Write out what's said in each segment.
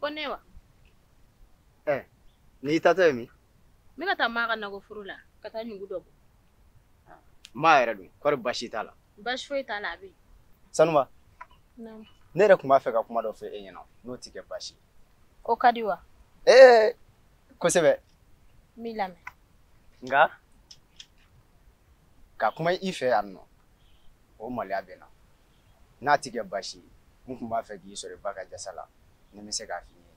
Ko ne wa? Ɛɛ n'i taatɔ ye min? N bɛ ka taa Maa ka nakɔ foro la ka taa ɲugu dɔ bɔ. Maa yɛrɛ dun kɔri basi t'a la? Basi foyi t'a la a bɛ yen. Sanuba. Naamu. Ne yɛrɛ tun b'a fɛ ka kuma dɔ fɔ e ɲɛna n'o tɛ kɛ basi ye. O ka di wa? Ee kosɛbɛ. N b'i lamɛn. Nka ka kuma i fɛ yan nɔ o maloya bɛ n na. n'a tɛ kɛ baasi ye n tun b'a fɛ k'i sɔrɔ i ba ka jasa la ni n bɛ se k'a f'i ye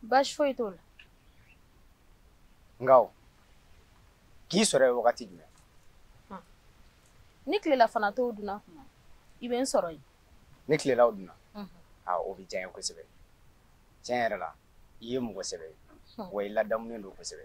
baasi foyi t'o la nka n k'i sɔrɔ yen wagati jumɛn ni tilelafana to dunna kuma i bɛ n sɔrɔ yen ni tilelaw dunna a o bɛ diya n ye kosɛbɛ tiɲɛ yɛrɛ la i ye mɔgɔ sɛbɛ ye wa i ladamunen don kosɛbɛ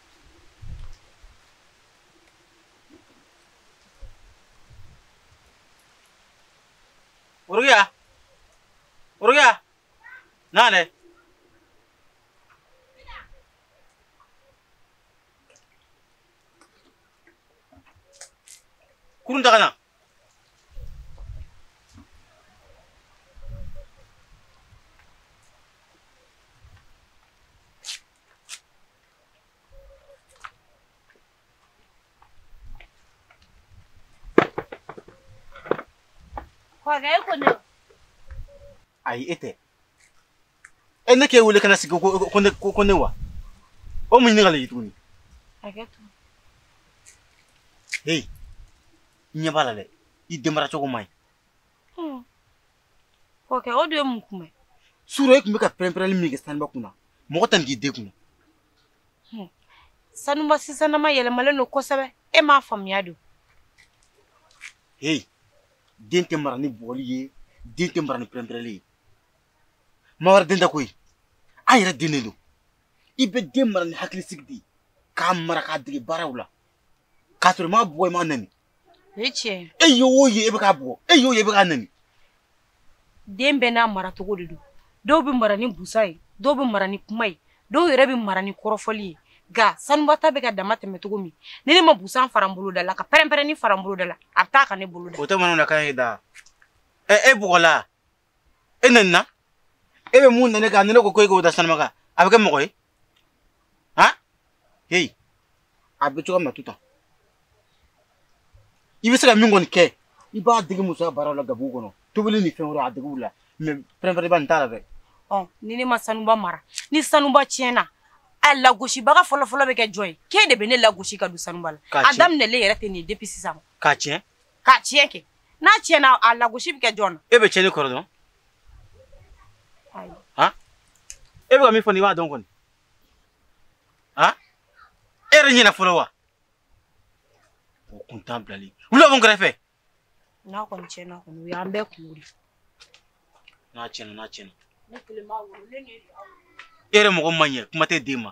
Uruya. Uruya. Nane. Kurun daga nan. ayi e tɛ e ne k'e wele ka na sigi ko ne ko ne wa o mun ɲininkali ye tuguni heyi i ɲɛ b'a la dɛ i denmara cogo man ɲi Okɛ o de ye mun kunun sura e tun bɛ ka pɛrɛnpɛrɛnli min kɛ sanuba kunna mɔgɔ tɛ nin k'i den kunna hmm. sanuba sisanama yɛlɛmalen don kosɛbɛ e m'a faamuya don heyi den tɛ mara ni bugɔli ye den tɛ mara ni pɛrɛnpɛrɛnli ye maa wɛrɛ den tɛ koyi an yɛrɛ den de don i bɛ den mara ni hakilisigi de ye k'a mara k'a dege baaraw la k'a sɔrɔ i m'a bugɔ i m'a nɛni o ye tiɲɛ ye e y'o ye e bɛ k'a bugɔ e y'o ye e bɛ k'a nɛni den bɛɛ n'a mara cogo de don dɔw bɛ mara ni busan ye dɔw bɛ mara ni kuma ye dɔw yɛrɛ bɛ mara ni kɔrɔfɔli ye nka sanuba ta bɛ ka damatɛmɛ cogo min ni ne ma busan fara n bolo da la ka pɛrɛn-pɛrɛnni fara n bolo da la a bɛ taa ka ne bolo da o tɛ manamanakan ye da ɛ e bugɔla e nɛnina e bɛ mun nane ka ne ko ko e k'o da sanuba kan a bɛ kɛ mɔgɔ ye han heyi a bɛ cogoya min na tu ta i bɛ se ka min kɔni kɛ i b'a dege musoya baaraw la gabugu kɔnɔ tobili ni fɛn wɛrɛ a dege u la mɛ pɛrɛnpɛrɛnba nin t'a la dɛ ɔ ni ne ma sanuba mara ni sanuba tiɲɛna a lagosibaga fɔlɔfɔlɔ bɛ kɛ jɔn ye k'e de bɛ ne lagosi ka don sanuba la a daminɛlen yɛrɛ tɛ nin ye depuis sisan k'a tiɲɛ ka tiɲɛ kɛ n'a tiɲɛna a lagosi bɛ kɛ jɔn na e bɛ tiɲɛni kɔrɔ dɔn han e bɛ ka min fɔ nin i b'a dɔn kɔni han e yɛrɛ ɲɛna fɔlɔ wa o kuntan bilali wula mun kɛrɛfɛ n'a kɔni tiɲɛna kɔni o y'an bɛɛ kunko de n'a tiɲɛna n'a tiɲɛna ne kelen m'a wolo ne ni e yɛrɛ mɔgɔ man ɲɛ kuma tɛ den ma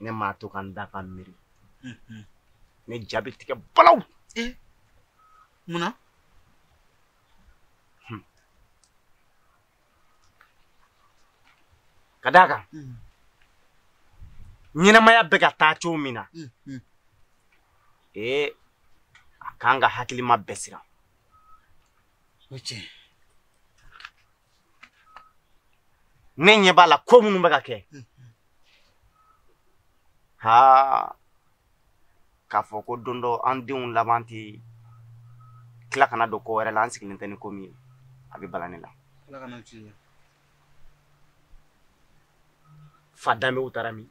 ne maa to ka n da ka miiri ne ja bɛ tigɛ balaw mun na ka d'a kan ɲɛnamaya bɛ ka taa cogo min na ee a kan ka hakilima bɛɛ siran o tiɲɛ ne ɲɛ b'a la ko minnu bɛ ka kɛ ha k'a fɔ ko don dɔ an denw laban tɛ tila ka na don ko wɛrɛ la an sigilen tɛ ni ko min ye a bɛ bala ne la fa danbew taara min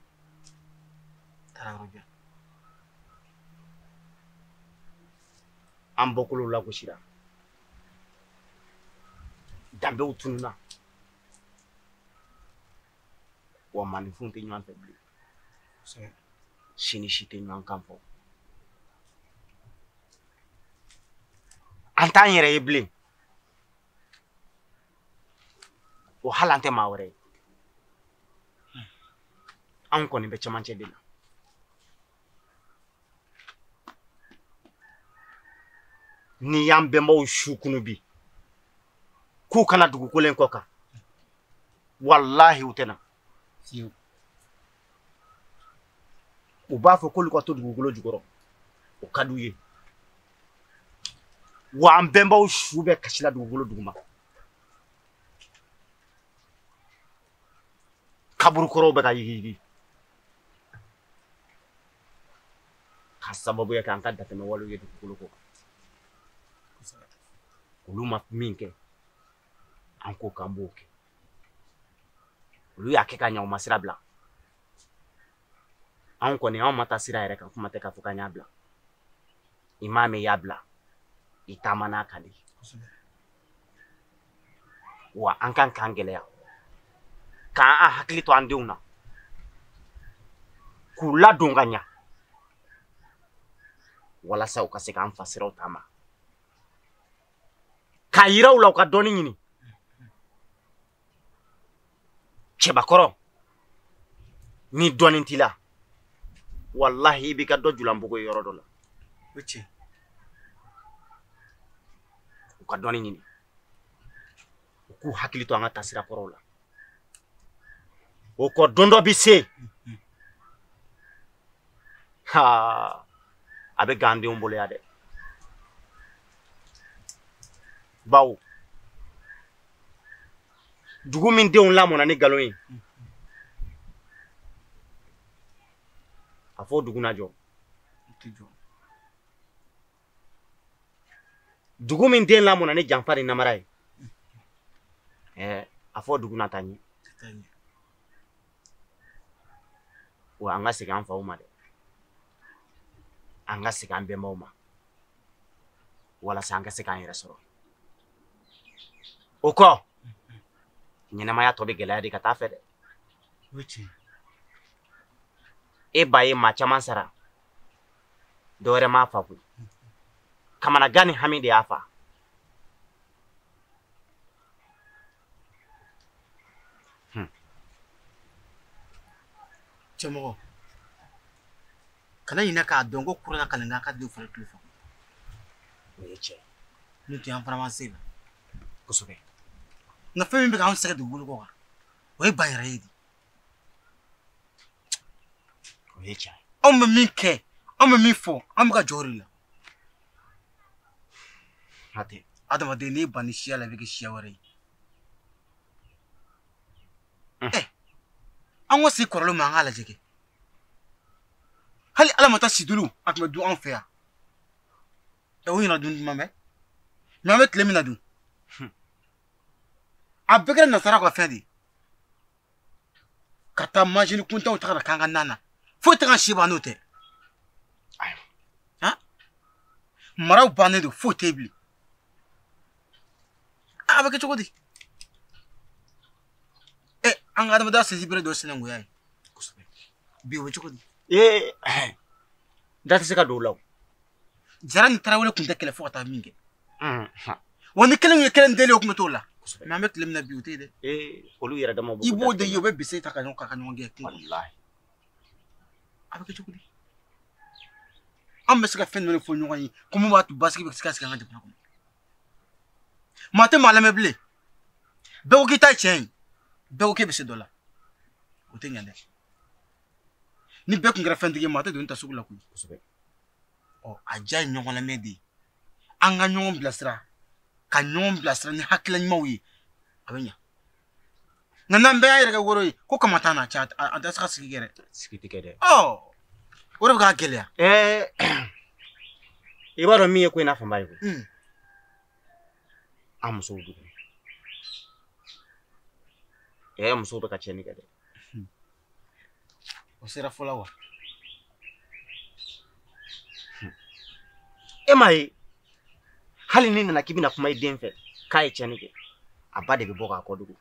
taara yɔrɔ jan an bɔkolow lagosira danbew tununna wa maaninfinw tɛ ɲɔgɔn fɛ bilen si ni si tɛ ɲɔgɔn kan fɔ an t'an yɛrɛ ye bilen o hali an tɛ maa wɛrɛ ye anw kɔni bɛ cɛmancɛ de la n'i y'an bɛnbaw su kunun bi k'u ka na dugukolo in kɔ kan walahi u tɛ na u b'a fɔ k'olu ka to dugukolo jukɔrɔ o ka d'u ye wa an bɛnbaw su bɛ kasi la dugukolo duguma kaburukɔrɔw bɛ ka yigiyigi k'a sababu kɛ an ka dantɛmɛ wale ye dugukolo kɔ olu ma min kɛ an ko k'an b'o kɛ olu y'a kɛ ka ɲa u ma sira bila anw kɔni anw ma taa sira yɛrɛ kan kuma tɛ k'a fɔ k'an y'a bila i m'a mɛn i y'a bila i taaman'a kan de wa an kan k'an gɛlɛya k'an hakili to an denw na k'u ladon ka ɲa walasa u ka se k'an fasiraw taama k'a yira u la u ka dɔnni ɲini cɛbakɔrɔ ni dɔnni t'i la walahi i b'i kɛ dɔ julanbugu ye yɔrɔ dɔ la o tiɲɛ u ka dɔnni ɲini u k'u hakili to an ka taasira kɔrɔw la o kɔ don dɔ bi se ha a bɛ gan denw bolo yan dɛ bawo dugu min denw lamɔna ni nkalon ye a fɔ dugu na jɔ dugu min den lamɔna ni janfa ni namara ye ɛɛ a fɔ dugu na taa ɲɛ wa an ka segin an faw ma dɛ an ka segin an bɛnbaw ma walasa an ka se k'an yɛrɛ sɔrɔ o kɔ ɲɛnamaya tɔ bɛ gɛlɛya de ka taa a fɛ dɛ i b'a ye maa caman sara dɔ wɛrɛ m'a fa koyi kamanagan ni hami de y'a fa Hmm. cɛ mɔgɔ kana ɲinɛ k'a dɔn ko kurana kalan kan ka di fana tulo fɛ o ye tiɲɛ n'o tɛ an fana ma se la kosɛbɛ nka fɛn min bɛ k'an sɛgɛn dugukolo kɔ kan o ye ba yɛrɛ ye de o ye tiɲɛ ye anw bɛ min kɛ anw bɛ min fɔ an bɛ ka jɔ o de la hatɛ adamaden n'i banna i siya la i bɛ kɛ siya wɛrɛ ye ɛ an ka segin kɔrɔlen ma an k'a lajɛ kɛ hali ala ma taa situlu a tun bɛ dun anw fɛ yan ɛ o ɲɛna dun duman bɛ mɛ an bɛ tile min na dun a bɛɛ kɛra nasara ka fɛn de ye ka taa majinin kuntanw ta ka na k'an ka na na foyi tɛ k'an si ban n'o tɛ maraw bannen don foyi tɛ bilen a bɛ kɛ cogo di ɛ an ka adamadenya sinsinbere dɔ sinankunya ye kosɛbɛ bi o bɛ cogo di ee da tɛ se ka don o la o jara ni tarawele tun tɛ kɛlɛ fo ka taa min kɛ wa ni kelen ye kelen deli o tun bɛ t'o la mɛ an bɛ tile min na bi o tɛ dɛ olu yɛrɛ dama i b'o de ye u bɛ bese ta ka ɲɔgɔn ka ɲɔgɔn gɛn kungo a bɛ kɛ cogo di an bɛ se ka fɛn jumɛn fɔ ɲɔgɔn ye ko mun b'a to basigi bɛ se ka sigi an ka jamana kɔnɔ maa tɛ maa lamɛn bilen bɛɛ ko k'i ta ye tiɲɛ ye bɛɛ ko k'e bɛ se dɔ la o tɛ ɲɛ dɛ ni bɛɛ tun kɛra fɛntigi maa tɛ doni ta sugu la koyi kosɛbɛ ɔ a diya ye ɲɔgɔn lamɛn de ye an ka ɲɔgɔn bilasira ka ɲɔgɔn bilasira ni hakilila ɲumanw ye a bɛ ɲa nka n'an bɛɛ y'an yɛrɛ kɛ woro ye ko kama t'an na cɛ an tɛ se ka sigi kɛ dɛ sigi tɛ kɛ dɛ ɔ o de bɛ k'a gɛlɛya i b'a dɔn min ye ko in n'a fanba ye koyi hmm. an musow dugu ɛɛ musow bɛ ka tiɲɛni kɛ dɛ o sera fɔlɔ wa e m'a ye hali n'i nana k'i bɛna kuma i den fɛ k'a ye tiɲɛni kɛ a ba de bɛ bɔ k'a kɔ dogo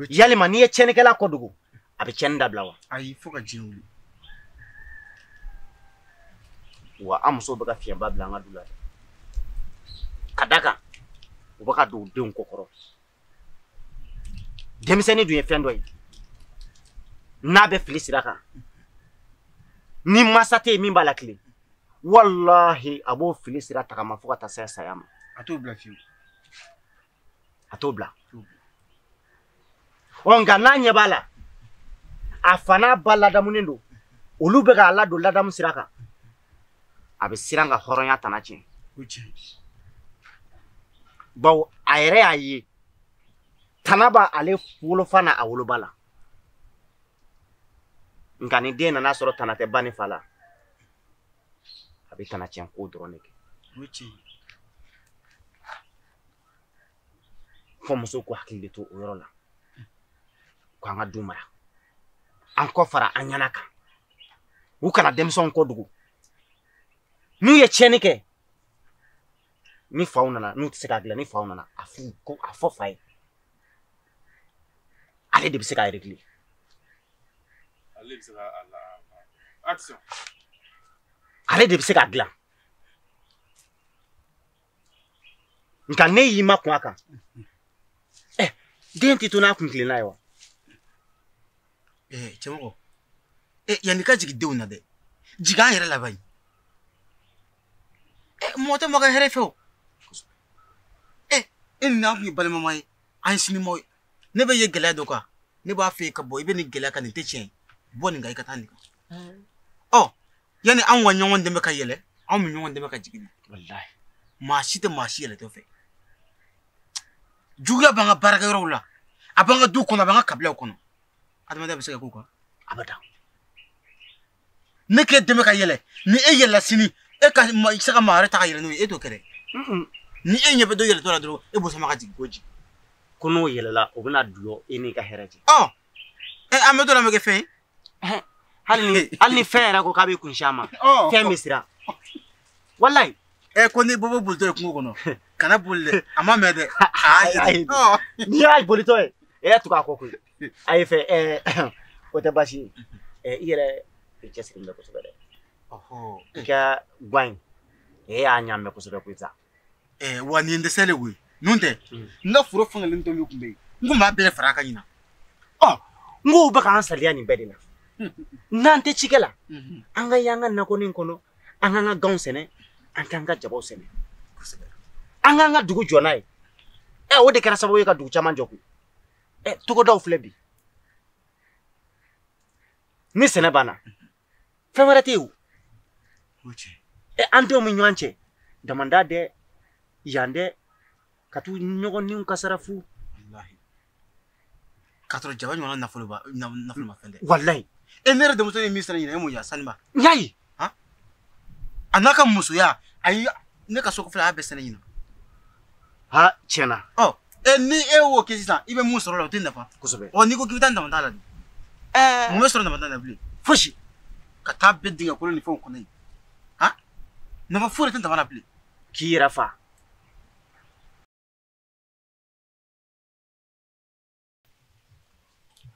yalima n'i ye tiɲɛnikɛla kɔ dogo a bɛ tiɲɛni dabila wa ayi fo ka diɲɛ wuli wa an musow bɛ ka fiɲɛba bila an ka du la dɛ k'a d'a kan u bɛ ka don u denw kɔ kɔrɔ denmisɛnnin dun ye fɛn dɔ ye n'a bɛ fili sira kan ni maa si tɛ yen min b'a latilen walahi a b'o fili sira tagama fo ka taa se saya ma a t'o bila fiyewu a t'o bila ɔ nka n'a ɲɛ b'a la a fa n'a ba ladamunen don olu bɛ k'a ladon ladamu sira kan a bɛ siran ka hɔrɔnya tana tiɲɛ bawo a yɛrɛ y'a ye tana b'a ale wolofa na a woloba la nka ni den nana sɔrɔ tana tɛ ba ni fa la a bɛ tana tiɲɛ ko dɔrɔn de kɛ fo musow k'u hakili de to o yɔrɔ la ko an ka du mara an k'o fara an ɲɛna kan u kana denmisɛnw kɔ dogo n'u ye tiɲɛni kɛ ni faw nana n'u tɛ se k'a dilan ni faw nana a f'u ko a fɔ fa ye ale de bɛ se k'a yɛrɛ dilan ale de bɛ se k'a latilen ale de bɛ se k'a dilan nka n'e y'i makun a kan ɛ eh, den tɛ to n'a kun tilenna ye wa. ɛɛ eh, cɛmɔgɔ ɛ eh, yanni ka jigin denw na dɛ jigin an yɛrɛ la bayi ɛ mɔgɔ tɛ mɔgɔ hɛrɛ fɛ o ɛ e ni n'a kun ye balimama ye an ye sinimɔgɔ ye ne b'e ye gɛlɛya dɔ kan ne b'a fɛ ka bɔ i bɛ nin gɛlɛya kan nin tɛ tiɲɛ ye bɔ nin kan i ka taa nin kan. ɔ yanni anw ka ɲɔgɔn dɛmɛ ka yɛlɛ anw bɛ ɲɔgɔn dɛmɛ ka jigin maa si tɛ maa si yɛlɛtɔ fɛ juguya b'an ka baarakɛyɔrɔw la a b'an ka du kɔnɔ a b'an ka kabilaw kɔnɔ adamadenya bɛ se ka k'o kan a bɛ dan ne k'e dɛmɛ ka yɛlɛ ni e yɛlɛla sini e ka i se ka maa wɛrɛ ta ka yɛlɛ n'o ye e t'o kɛ dɛ ni e ɲɛ bɛ dɔ yɛlɛtɔ la dɔrɔn e b'o sama ka jigin ko jigin ko n'o yɛlɛla o bɛna don e n'i ka hɛrɛ cɛ ɔ an bɛ dɔ la an bɛ kɛ fɛn ye hali ni hali ni fɛn yɛrɛ ko k'a bɛ kun si a ma oh. fɛn bɛ siran walayi. ɛ eh, ko n'i bobo bolitɔ ye kungo kɔnɔ kana boli dɛ a m'a mɛn dɛ. ayi oh. n'i y'a bolitɔ ye e y'i tugu a kɔ koyi a ye fɛn ɛɛ eh, o tɛ baasi ye eh, i yɛrɛ i cɛsirilen bɛ kosɛbɛ dɛ i ka guwa in e y'a ɲaamɛ kosɛbɛ koyi sa. ɛɛ wa nin ye n dɛsɛ de koyi n'o tɛ n ka foro fankelen dɔ min tun bɛ yen n tun b'a bɛɛ fara a kan ɲinan ɔ n k'o bɛ k'an saliya nin bɛɛ de la n'an tɛ cikɛ la an ka y'an ka nakɔnin kɔnɔ an k'an ka ganw sɛnɛ an k'an ka jabaw sɛnɛ an k'an ka dugu jɔ n'a ye ɛ o de kɛra sababu ye ka dugu caman jɔ koyi ɛ togodaw filɛ bi ni sɛnɛ banna fɛn wɛrɛ tɛ yen o ɛ an denw bɛ ɲɔgɔn cɛ damanda dɛ yan dɛ ka t'u ɲɔgɔn niw kasaara fu k'a sɔrɔ jaba ɲɔgɔnna nafolomafɛn tɛ walayi e ne yɛrɛ denmuso ye min sɛnɛ ɲinan e m'o y'a sanuba n y'a ye a n'a ka musoya ayi ne ka so kɔfɛla a y'a bɛɛ sɛnɛ ɲinan ha tiɲɛna ɔ e ni e y'o kɛ sisan i bɛ mun sɔrɔ o la o tɛ nafa kosɛbɛ ɔ n'i ko k'i bɛ taa damanda la de mun bɛ sɔrɔ nafa t'a la bilen fosi ka taa bin dingɛ kolon ni fɛnw kɔnɔ yen han nafa foyi de tɛ daman na bilen k'i yɛrɛ fa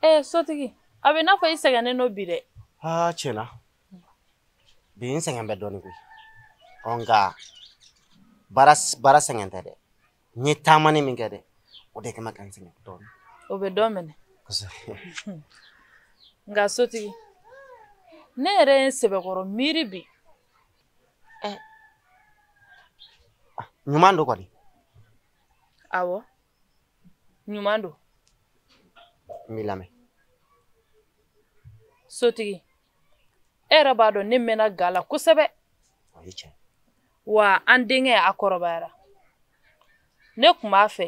ee sotigi a bɛ n'a fɔ i sɛgɛnnen don bi dɛ aa tiɲɛna bi n sɛgɛn bɛ dɔɔnin koyi ɔ nka baara sɛgɛn tɛ dɛ n ye taamanin min kɛ dɛ o de kama ka n sɛgɛn dɔɔnin o bɛ dɔ minɛ nka sotigi ne yɛrɛ ye n sɛbɛkɔrɔ miiri bi ɲuman don kɔni awɔ ɲuman don n b'i lamɛn sotigi e yɛrɛ b'a dɔn ne mɛnna ga la kosɛbɛ wa an denkɛ a kɔrɔbayara ne tun b'a fɛ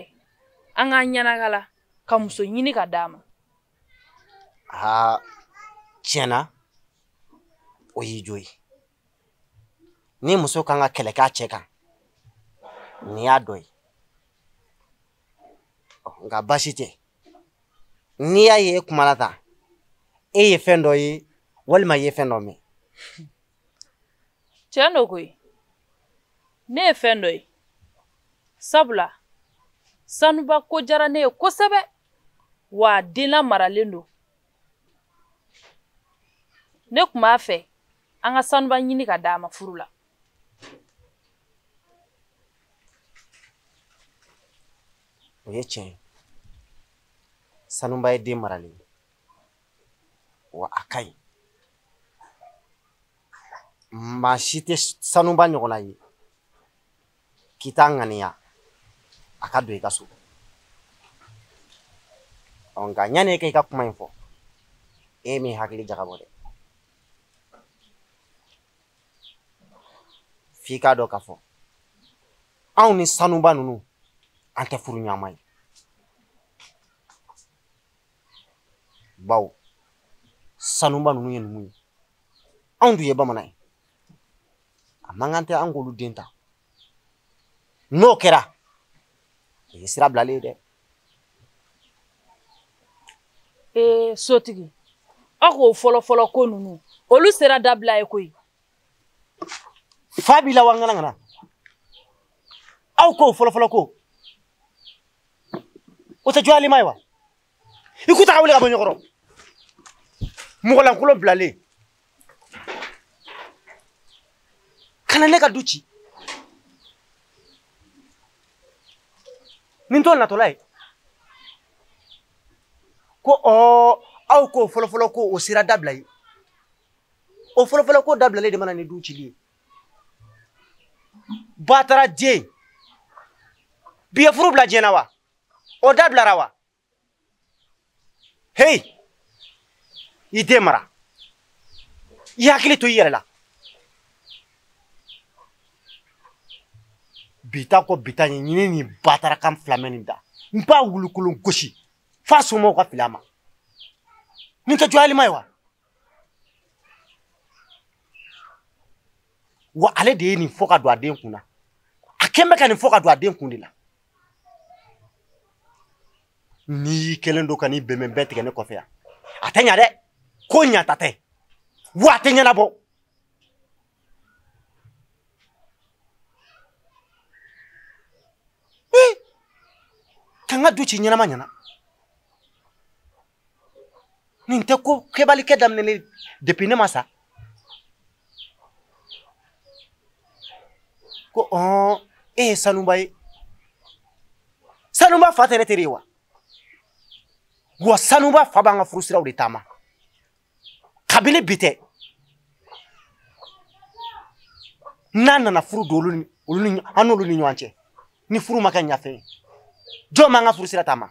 an k'an ɲɛnagala ka muso ɲini ka d'a ma aa tiɲɛna o y'i jo ye ni muso kan ka kɛlɛ k'a cɛ kan nin y'a dɔ ye nka baasi tɛ n'i y'a ye e kuma la tan e ye fɛn dɔ ye walima i ye fɛn dɔ mɛn tiɲɛ don koyi ne ye fɛn dɔ ye sabula sanuba ko diyara ne ye kosɛbɛ wa den lamaralen don ne tun b'a fɛ an ka sanuba ɲini ka d'a ma furu la o ye tiɲɛ ye sanuba ye den maralen ye wa a ka ɲi maa si tɛ sanuba ɲɔgɔnna ye k'i t'a ŋaniya a ka don i ka so ɔ nka yanni e ka i ka kuma in fɔ e m'i hakili jagabɔ dɛ f'i k'a dɔn k'a fɔ anw ni sanuba ninnu an tɛ furuɲɔgɔnma ye bawo sanuba ninnu ye numu ye anw dun ye bamanan ye a man kan tɛ an k'olu den ta n'o kɛra o ye sira bilalen ye dɛ ee sotigi aw k'o fɔlɔfɔlɔ ko ninnu olu sira dabila ye koyi fa b'i la wa n kana ka na aw k'o fɔlɔfɔlɔ ko o tɛ jɔyalima ye wa i k'u ta ka wuli ka bɔ n ɲɛ kɔrɔ mɔgɔlankolon bilalen ka na ne ka du ci nin t'o natɔla ye ko ɔɔ aw k'o fɔlɔfɔlɔ ko o sira dabila ye o fɔlɔfɔlɔ ko dabilalen de nana ni du cili ye batara den bi ye furu bila diɲɛ na wa o dabilara wa hei i den mara i hakili to i yɛrɛ la bi ta ko bi ta ye ɲini ni batara kan filamɛ nin da n b'a wulukolon gosi f'a somɔgɔw ka fili a ma nin tɛ jɔyalima ye wa wa ale de ye nin fɔ ka don a den kun na a kɛlen bɛ ka nin fɔ ka don a den kun de la n'i y'i kɛlen don ka nin bɛnbɛn bɛɛ tigɛ ne kɔfɛ yan a tɛ ɲa dɛ ko ɲata tɛ wa a tɛ ɲɛnabɔ ka n ka du ci ɲɛnama ɲɛna nin tɛ ko kɛbali kɛ daminɛlen depuis ne ma sa ko ɔn e ye sanuba ye sanuba fa tɛ ne teri ye wa wa sanuba fa b'an ka furusiraw de taama kabini bi tɛ n'a nana furu don an n'olu ni ɲɔgɔn cɛ ni furu ma kɛ ɲafɛ ye jɔn b'an ka furusira taama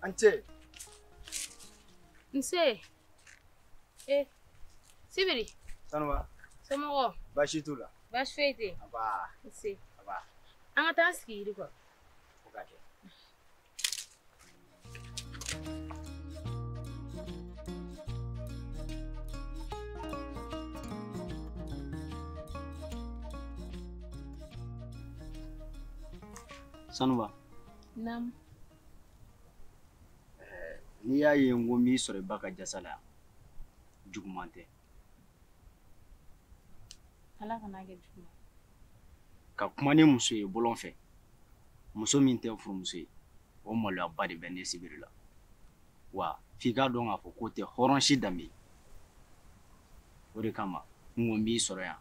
A ni ce. Nse. Eh, Sibiri. Sanuba. Somɔgɔw. Baasi t'u la. Baasi foyi tɛ yen. Nba. Nse. Nba. An ka taa sigi yiri kɔrɔ. Sanuba. Naamu. N'i y'a ye n ko n b'i sɔrɔ i ba ka jasa la yan, juguman tɛ. ala kan'a kɛ jugu ka kuma ni muso ye bɔlɔn fɛ muso min tɛ n furumuso ye o maloyaba de bɛ ne sibiri la wa f'i k'a dɔn k'a fɔ k'o tɛ hɔrɔn si danbe o de kama n ko n b'i sɔrɔ yan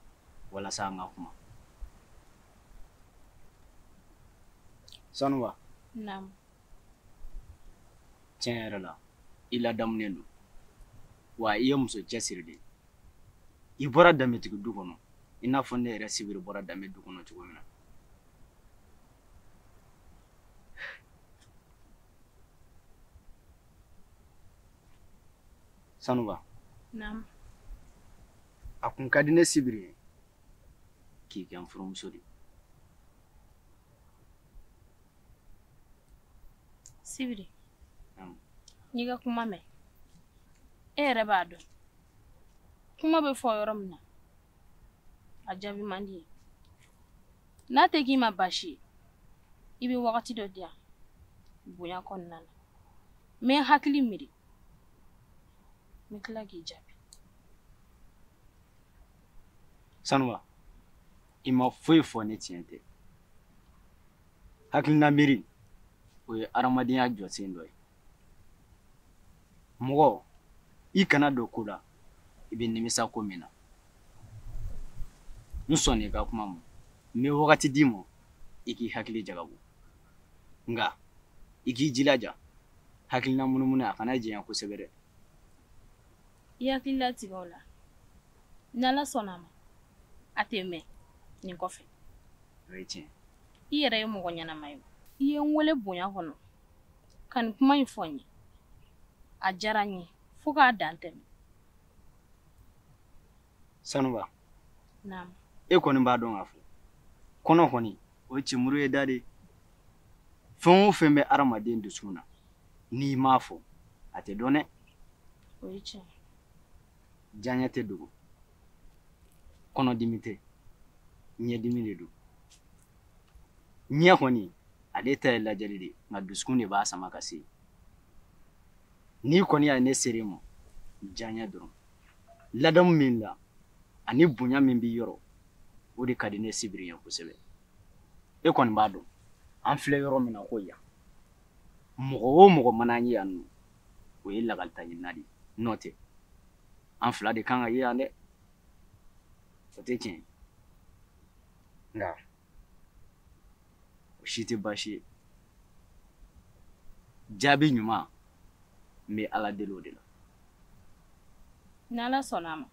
walasa an ka kuma sanuba tiɲɛ yɛrɛ la i ladamunen don wa i ye muso cɛsiri de i bɔra danbetigi du kɔnɔ i n'a fɔ ne yɛrɛ sibiri bɔra danbe du kɔnɔ cogo min na sanuba a kun ka di ne sibiri ye k'i kɛ n furumuso de ye sibiri n y'i ka kuma mɛn e yɛrɛ b'a dɔn kuma bɛ fɔ yɔrɔ min na a jaabi man di yen n'a tɛ k'i ma baasi ye i bɛ wagati dɔ di yan bonya kɔnɔna na n bɛ n hakili miiri n bɛ tila k'i jaabi sanuba i ma foyi fɔ ni tiɲɛ tɛ hakilina miiri o ye adamadenya jɔsen dɔ ye mɔgɔ i kana don ko la i bɛ nimisa ko min na n sɔnna i ka kuma ma n bɛ wagati d'i ma i k'i hakili jagabo nka i k'i jilaja hakilina munumunu a kana janya kosɛbɛ dɛ i hakili latigɛ o la n'ala sɔnna a ma a tɛ mɛɛn nin kɔfɛ o ye tiɲɛ i yɛrɛ ye mɔgɔ ɲɛnama ye i ye n wele bonya kɔnɔ ka nin kuma in fɔ n ye a diyara n ye fo k'a dan tɛmɛ sanuba e kɔni b'a dɔn k'a fɔ kɔnɔ kɔni o ye je muru ye da de ye fɛn o fɛn bɛ adamaden dusukun na n'i m'a fɔ a tɛ dɔn dɛ diyaɲɛ tɛ dogo kɔnɔdimi tɛ ɲɛdimi de don ɲɛ kɔni ale ta ye lajɛli de ye nka dusukun de b'a sama ka se n'i kɔni y'a ye ne sera i ma diyaɲɛ dɔrɔn ladamu min la ani bonya min b'i yɔrɔ o de ka di ne sibiri ye kosɛbɛ e kɔni b'a dɔn an filɛ yɔrɔ min na ko yan mɔgɔ o mɔgɔ mana an ye yan nɔ o ye lakalita ɲinina de ye n'o tɛ an fila de kan ka ye yan dɛ o tɛ tiɲɛ ye nka o si tɛ baasi ye jaabi ɲuman n bɛ ala deli o de la ni ala sɔnna a ma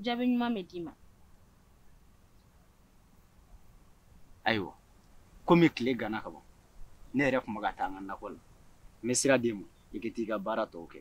jaabi ɲuman bɛ d'i ma ayiwa komi tile ganna ka ban ne yɛrɛ tun bɛ ka taa n ka nakɔ la n bɛ sira d'e ma i ka taa i ka baara tɔw kɛ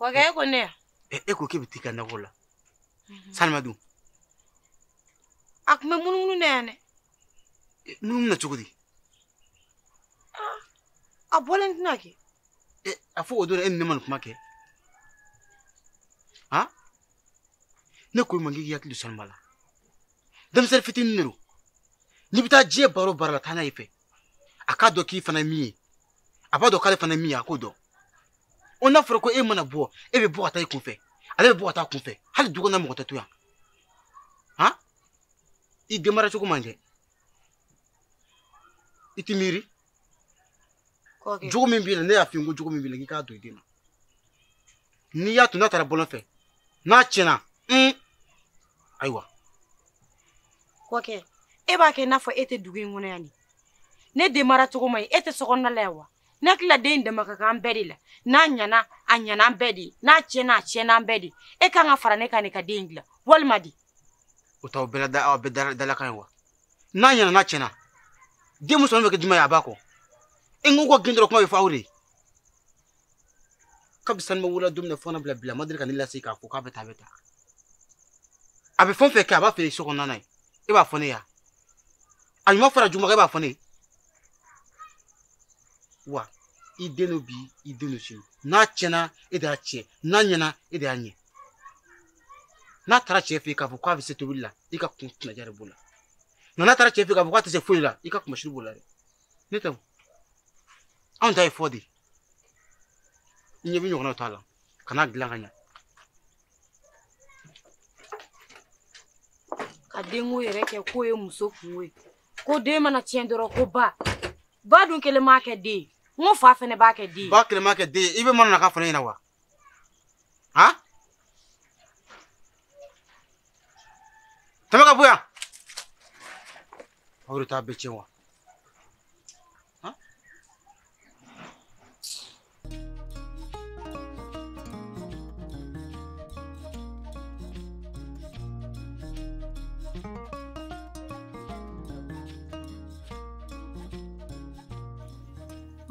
wagaye ko ne eh, e ko k'e bɛ t'i ka nakɔ la mhm. sanuba dun a tun bɛ munumunu na yan dɛ eh, munumunu na cogo di ah, a bɔlen tɛna kɛ eh, a fɔ o don e ni ne ma nin kuma kɛ han ne ko i ma k'i hakili to sanuba la denmisɛnnin fitinin de don n'i bɛ taa diɲɛ baara o baara la taa n'a ye i fɛ a k'a dɔn k'i fana ye min ye a b'a dɔn k'ale fana ye min ye a k'o dɔn o n'a fɔra ko e mana bɔ e bɛ bɔ ka taa i kunfɛ ale bɛ bɔ ka taa a kunfɛ hali du kɔnɔ mɔgɔ tɛ to yan han i denmara cogo man ɲi i t'i miiri jogo min b'i la ne y'a f'i ye ko jogo min b'i la k'i k'a don i den na n'i y'a to n'a taara bɔlɔn fɛ n'a tiɲɛna un ayiwa kɔkɛ e b'a kɛ i n'a fɔ e tɛ dugu in kɔnɔ yan ni ne den mara cogo man ɲi e tɛ sokɔnɔna la yan wa ne hakilila den in ladamu ka kan an bɛɛ de la n'a ɲana a ɲana an bɛɛ de ye n'a tiɲɛna a tiɲɛna an bɛɛ de ye e kan ka fara ne kan ne ka den in dilan walima di o t'aw bɛɛ la da aw bɛɛ dalakan ye wa n'a ɲana n'a tiɲɛna den musomannin bɛ kɛ jumɛn ye a ba kɔ e n ko ko gɛn dɔrɔn kuma bɛ fɔ aw de ye kabi sanuba wolo don min na fo n'a bila bi la a ma deli ka ne lase k'a fɔ k'a bɛ taa a bɛ taa a bɛ fɛn o fɛn kɛ a b'a f'e ye sokɔnɔna na yen e b'a fɔ ne ye a ɲuman fara juguman e b'a fɔ ne ye wa i den don bi i den don sini n'a tiɲɛna e de y'a tiɲɛ n'a ɲɛna e de y'a ɲɛ n'a taara cɛ fɛ yen k'a fɔ k'a bɛ se tobili la i ka kun tɛnaja de b'o la nka n'a taara cɛ fɛ yen k'a fɔ k'a tɛ se foyi la i ka kunnasiri b'o la dɛ ne tɛ o anw ta ye fɔ de ye n ɲɛ bɛ ɲɔgɔnna to a la kana dilan ka ɲɛ ka denko yɛrɛ kɛ k'o ye muso kunko ye ko den mana tiɲɛ dɔrɔn ko ba ba dun kelen m'a kɛ den ye n ko fa fɛnɛ b'a kɛ den ye ba kelen m'a kɛ den ye i bɛ mana na ka fana ɲɛna wa Ha? Tɛmɛ ka bɔ yan. Aw de t'a bɛɛ tiɲɛ wa?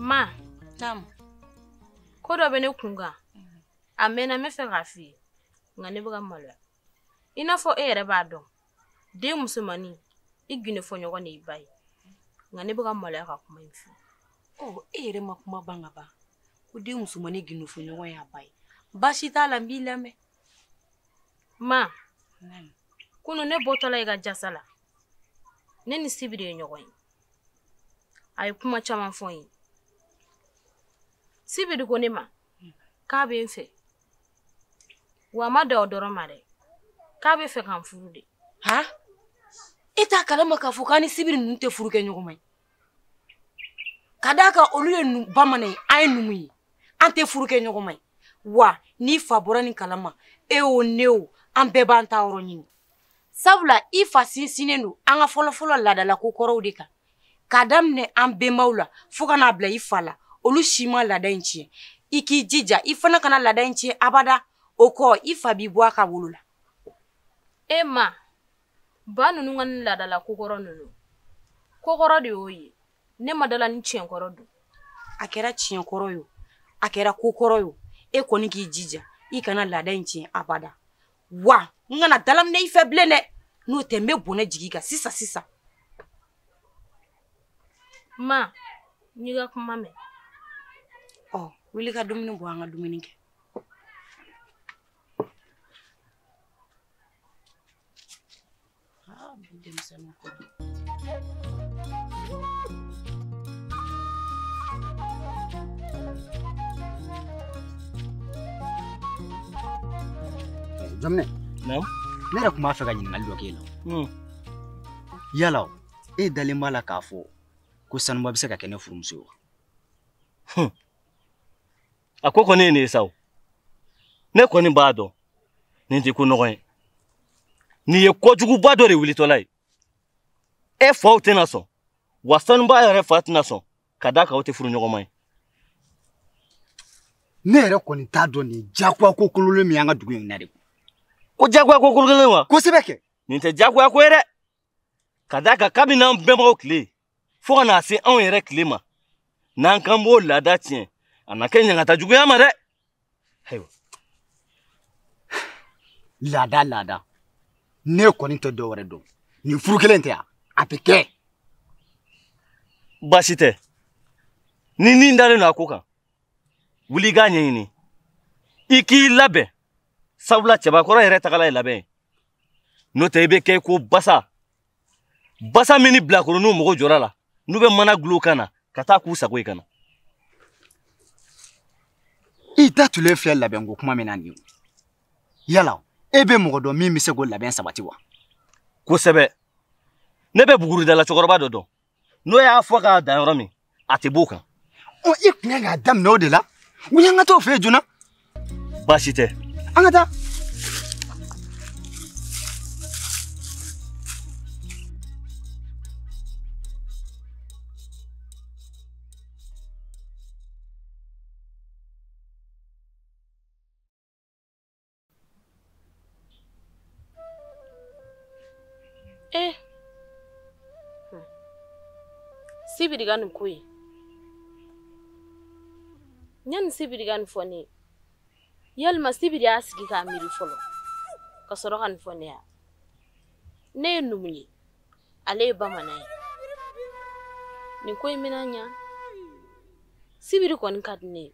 Ma. Naamu. ko dɔ bɛ ne kun kan a mɛɛnna n bɛ fɛ k'a f'i ye nka ne bɛ ka maloya i n'a fɔ e yɛrɛ b'a dɔn den musomannin i gundo fɔ ɲɔgɔn de y'i ba ye nka ne bɛ ka maloya ka kuma in fɔ ɔ e yɛrɛ ma kuma ban ka ban ko den musomannin gundo fɔ ɲɔgɔn y'a ba ye baasi t'a la n b'i lamɛn ma kunu ne bɔtɔla i ka jasa la ne ni sibiri ye ɲɔgɔn ye a ye kuma caman fɔ n ye sibiri ko ne ma k'a bɛ n fɛ wa a ma dan o dɔrɔn ma dɛ k'a bɛ fɛ ka n furu de ha e t'a kalama k'a fɔ k'an ni sibiri ninnu tɛ furu kɛ ɲɔgɔn ma ye ka d'a kan olu ye bamanan ye an ye numu ye an tɛ furu kɛ ɲɔgɔn ma ye wa n'i fa bɔra nin kalama e o ne o an bɛɛ b'an taa yɔrɔ ɲini sabula i fa sinsinnen don an ka fɔlɔfɔlɔ laadala ko kɔrɔw de kan k'a daminɛ an benbaw la fɔɔ ka n'a bila i fa la olu si ma laada in tiɲɛ i k'i jija i fana kana laada in tiɲɛ abada o kɔ i fa b'i bɔ a ka wolo la e ma ba ninnu ka nin laadala kokɔrɔ ninnu kokɔrɔ de y'o ye ne ma d'a la ni tiɲɛkɔrɔ don a kɛra tiɲɛkɔrɔ ye a kɛra kokɔrɔ ye e kɔni k'i jija i kana laada in tiɲɛ abada wa n kana dalaminɛ i fɛ bilen dɛ n'o tɛ n bɛ bɔnɛ jigin i kan sisan sisan ma n y'i ka kuma mɛn ɔ wuli ka dumuni bɔ an ka dumuni kɛ Ah, bi denmisɛnninw ko don. Jaminɛ. Ne yɛrɛ tun b'a fɛ ka ɲininkali dɔ k'e la. Hmm. Yala e dalen b'a la k'a fɔ ko Sanuba bɛ se ka kɛ ne furumuso ye wa? a ko kɔni ye nin ye sa o ne kɔni b'a dɔn nin tɛ ko nɔgɔn ye nin ye kojuguba dɔ de wulitɔla ye e fa tɛna sɔn wa sanaba yɛrɛ fa tɛna sɔn ka d'a kan aw tɛ furuɲɔgɔnma ye ne yɛrɛ kɔni t'a dɔn nin jagoya ko kololen min y'an ka dugu in na de ko jagoya ko kololen wa kosɛbɛ kɛ nin tɛ jagoya ko ye dɛ ka d'a kan kabini an bɛnbakɛw tile fo ka n'a se anw yɛrɛ tile ma n'an k'an b'o laada tiɲɛ a na kɛ ɲangata jugu y'an ma dɛ ayiwa laada laada ne kɔni tɛ dɔ wɛrɛ dɔn ni furu kelen tɛ yan a bɛ kɛ baasi tɛ n'i ni dalen don a ko kan wuli i k'a ɲɛɲini i k'i labɛn sabula cɛbakɔrɔ yɛrɛ tagala ye labɛn ye n'o tɛ i bɛ kɛ ko basa basa min ni bilakoroninw mago jɔr'a la n'u bɛ mana dulon a kan na ka taa k'u sago ye ka na i da tulen filɛ labɛnko kuma min na nin ye yala e bɛ mɔgɔ dɔn min bɛ se k'o labɛn sabati wa kosɛbɛ ne bɛ buguridala cɛkɔrɔba dɔ dɔn n'o y'a fɔ k'a da yɔrɔ min a tɛ b'o kan ɔ i tun kan k'a daminɛ o de la wuli an ka t'o fɛ yen joona baasi tɛ an ka taa Eh. Hmm. Sibiri ka nin ko in. Yanni sibiri ka nin fɔ ne ye, yalima sibiri y'a sigi k'a miiri fɔlɔ ka sɔrɔ ka nin fɔ ne ye. Ne ye numu ye, ale ye bamanan ye. Nin ko in bɛna ɲa. Sibiri kɔni ka di ne ye.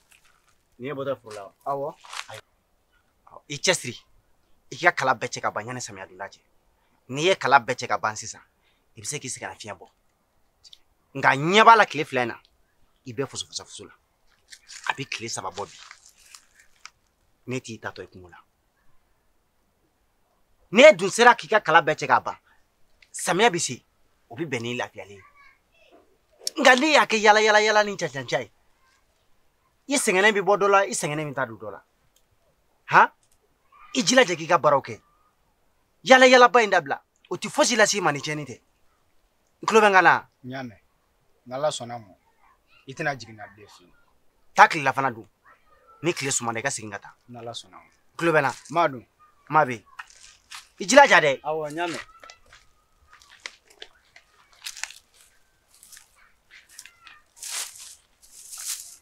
N'i ye bɔtɔ foro la wa? Awɔ. I cɛsiri i ka kala bɛɛ cɛ ka ban yanni samiya donda cɛ n'i ye kala bɛɛ cɛ ka ban sisan i bɛ se k'i sigi ka lafiɲɛ bɔ nka n ɲɛ b'a la tile fila in na i bɛ fusufasa fusu la a bɛ tile saba bɔ bi ne t'i taatɔ ye kungo la n'e dun sera k'i ka kala bɛɛ cɛ ka ban samiya bɛ se o bɛ bɛn n'i lafiyalen ye nka n'i y'a kɛ yaala yaala yaala ni cancanca ye i sɛgɛnnen bɛ bɔ dɔ la i sɛgɛnnen bɛ taa don dɔ la han i jilaja k'i ka baaraw kɛ yaala yaalaba in dabila o tɛ fosi lase i ma ni tiɲɛni tɛ n tulo b'i kan na n y'a mɛn n'ala sɔnna ma i tɛna jigin n na bilen fiyewu taa tilelafana dun ni tile sumana i ka segin ka taa n'ala sɔnna ma tulo bɛ n na m'a dun ma bɛ yen i jilaja dɛ awɔ n y'a mɛn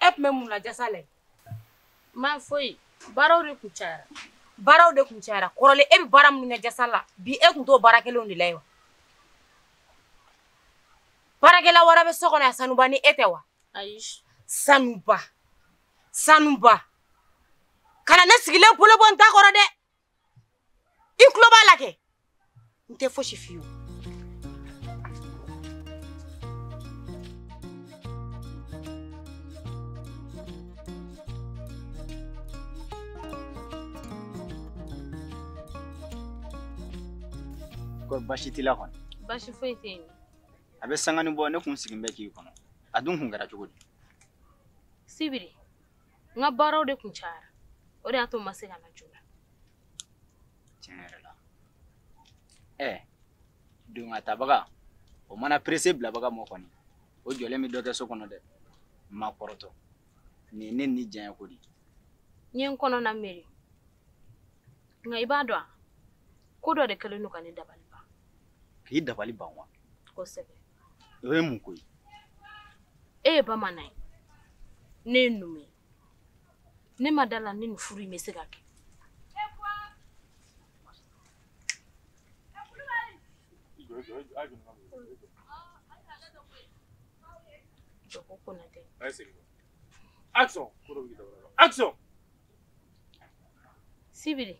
e tun bɛ mun na jasa la ma foyi baaraw de kun cayara baaraw de kun cayara kɔrɔlen e bɛ baara minnu kɛ jasa la bi e tun t'o baara kelenw de la yen wa baarakɛla wɛrɛ bɛ so kɔnɔ yan sanuba ni e tɛ wa ayi sanuba sanuba kana ne sigilen bolo bɔ n ta kɔrɔ dɛ i tulo b'a la kɛ n tɛ fosi f'i ye ko basi t'i la kɔni basi foyi tɛ yen a bɛ sangani bɔ ne kun sigin bɛ k'i kɔnɔ a dun kun kɛra cogo di sibiri n ka baaraw de kun cayara o de y'a to n ma se ka na joona tiɲɛ yɛrɛ la ɛ don ka tabaga o mana perese bilabaga mɔ kɔni o jɔlen bɛ dɔ kɛ so kɔnɔ dɛ n ma kɔrɔtɔ nin ye ne ni diyaɲɛ ko di n ye n kɔnɔ na miiri nka i b'a dɔn a ko dɔ de kɛlen don ka ne dabali ban k'i dabali ban wa kosɛbɛ o ye mun ko ye e ye bamanan ye ne ye numu ye ne ma d'a la ni nin furu in bɛ se ka kɛ Joko Konate. Action! Action! Sibiri,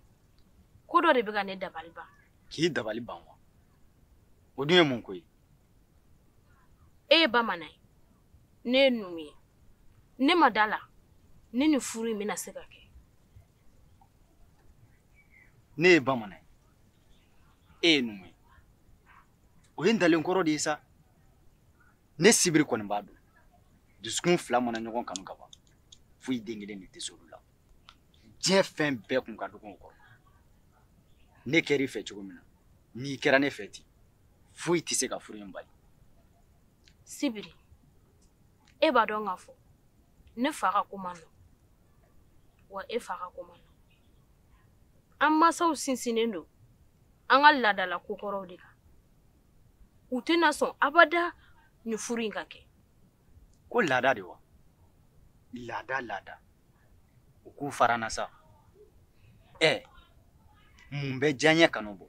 ko dɔ de bɛ ka ne dabali ban. K'i dabali ban wa? o dun ye mun ko ye e ye bamanan ye ne ye numu ye ne ma d'a la ni nin furu in bɛna se ka kɛ ne ye bamanan ye e ye numu ye o ye n dalen kɔrɔ de ye sa ne sibiri kɔni b'a dɔn dusukun fila mana ɲɔgɔn kanu ka ban foyi den kelen de tɛ s'olu la diɲɛ fɛn bɛɛ kun ka dɔgɔn u kɔrɔ ne kɛra i fɛ cogo min na n'i kɛra ne fɛ ten foyi tɛ se ka furu in bali sibiri e b'a dɔn k'a fɔ ne fa ka ko man nɔgɔn wa e fa ka ko man nɔgɔn an masaw sinsinnen don an ka laadala kokɔrɔw de kan u tɛna sɔn abada nin furu in ka kɛ ko laada de wa laada laada u k'u fara an na sa ɛ mun bɛ diyaɲɛ kanu bɔ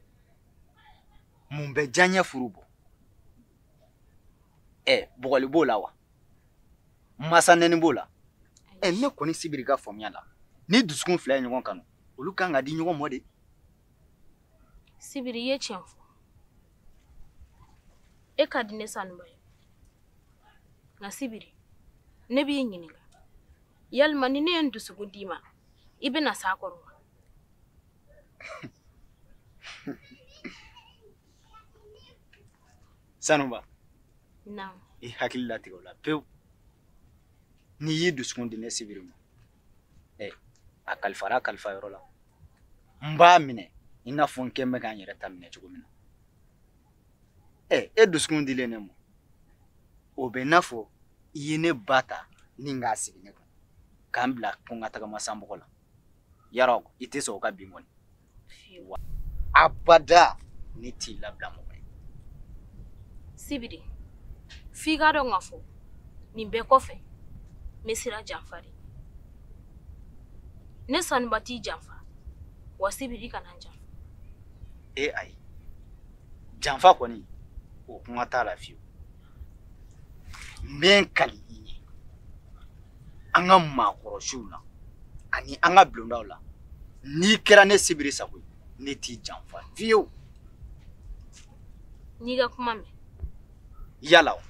mun bɛ diyaɲɛ furu bɔ ɛ bugɔli b'o la wa masa nɛni b'o la ɛ ne kɔni sibiri ka faamuya la ni dusukun fila ye ɲɔgɔn kanu olu ka kan ka di ɲɔgɔn mɔ de sibiri i ye tiɲɛ fɔ e ka di ne sanuba ye nka sibiri ne b'i ɲininka yalima ni ne ye n dusukun d'i ma i bɛna s'a kɔrɔ wa sanuba i hakili latigɛ o la pewu n'i y'i dusukun di ne sibiri ma ɛ a kalifara kalifa yɔrɔ la n b'a minɛ i n'a fɔ n kɛ bɛ ka n yɛrɛ ta minɛ cogo min na ɛ e dusukun dilen ne ma o bɛ n'a fɔ i ye ne ba ta nin k'a sigi ne kun ka n bila ko n ka tagama san bɔgɔ la yala i tɛ sɔn o ka bin kɔni abada ne t'i labila mɔgɔ ye sibiri f'i k'a dɔn k'a fɔ nin bɛɛ kɔfɛ n bɛ siran janfa de ne sanuba t'i janfa wa sibiri kana n janfa e ayi janfa kɔni o kuma t'a la fiyewu n bɛ n kali i ye an ka maakɔrɔsiw la ani an ka bulondaw la n'i kɛra ne sibiri sago ye ne t'i janfa fiyewu n y'i ka kuma mɛn yala o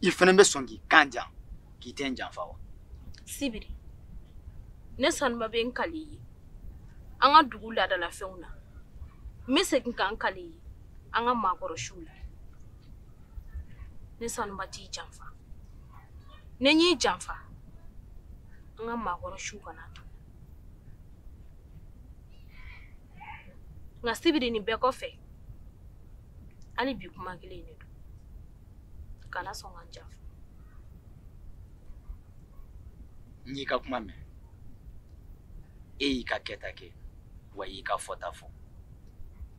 i fana bɛ sɔn k'i kan di yan k'i tɛ n janfa wa sibiri ne sanuba bɛ n kali i ye an ka dugu laadalafɛnw na n bɛ segin ka n kali i ye an ka maakɔrɔ siw la ne sanuba t'i janfa ni n y'i janfa an ka maakɔrɔ siw kana n to nka sibiri nin bɛɛ kɔfɛ hali bi kuma kelen de don kana sɔn ka n janfa n y'i ka kuma mɛn e y'i ka kɛta kɛ wa i y'i ka fɔta fɔ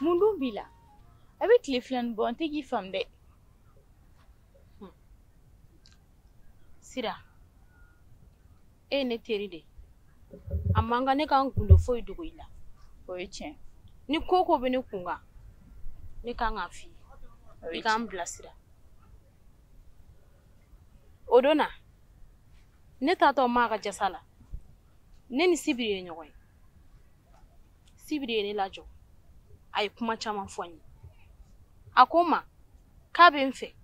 mun dun b'i la a bɛ tile fila nin bɔ n tɛ k'i faamu dɛ sira e ye ne teri de a man kan ne ka n gundo foyi dogo i la o ye tiɲɛ ni ko ko bɛ ne kun kan ne kan k'a f'i ye i ka n bilasira o don na ne taatɔ maa ka jasa la ne ni sibiri ye ɲɔgɔn ye sibiri ye ne lajɔ a ye kuma caman fɔ n ye a ko n ma k'a bɛ n fɛ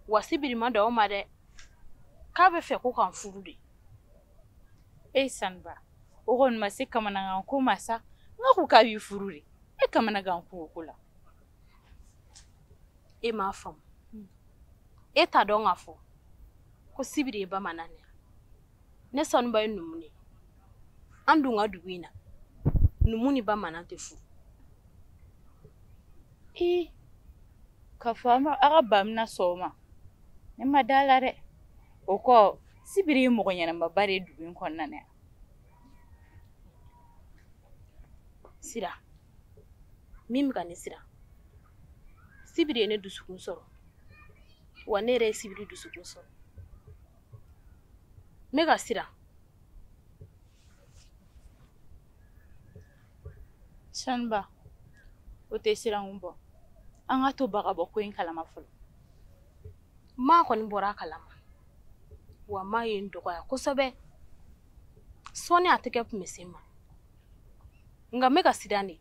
wa sibiri ma dan o ma dɛ k'a b'a fɛ ko ka n furu de e sanuba o kɔni ma se kamanagan ko ma sa nka ko k'a b'i furu de e kamanagan ko o ko la e m'a faamu e t'a dɔn k'a fɔ ko sibiri ye bamanan de ne sanuba ye numu de an dun ka dugu in na numu ni bamanan tɛ furu ee k'a fɔ an ka ba bɛna sɔn a ma ne ma da a la dɛ o kɔ sibiri ye mɔgɔ ɲɛnamaba de ye dugu in kɔnɔna na yan sira min bɛ ka ne siran sibiri ye ne dusukun sɔrɔ wa ne yɛrɛ ye sibiri dusukun sɔrɔ n bɛ ka siran saniba o tɛ siranko bɔ an k'a to ba ka bɔ ko in kalama fɔlɔ ma kɔni bɔra a kalama wa ma ye n dɔgɔya kosɛbɛ sɔɔni a tɛgɛ tun bɛ se n ma nka n bɛ ka siran de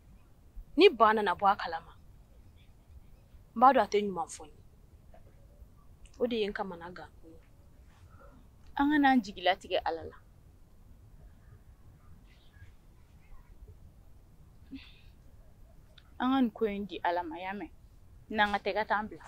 ni ba nana bɔ a kalama n b'a dɔn a tɛ ɲuman fɔ n ye o de ye n kamanagan ko ye an kana an jigi latigɛ ala la an ka nin ko in di ala ma y'a mɛn n'an ka taa i ka taa n bila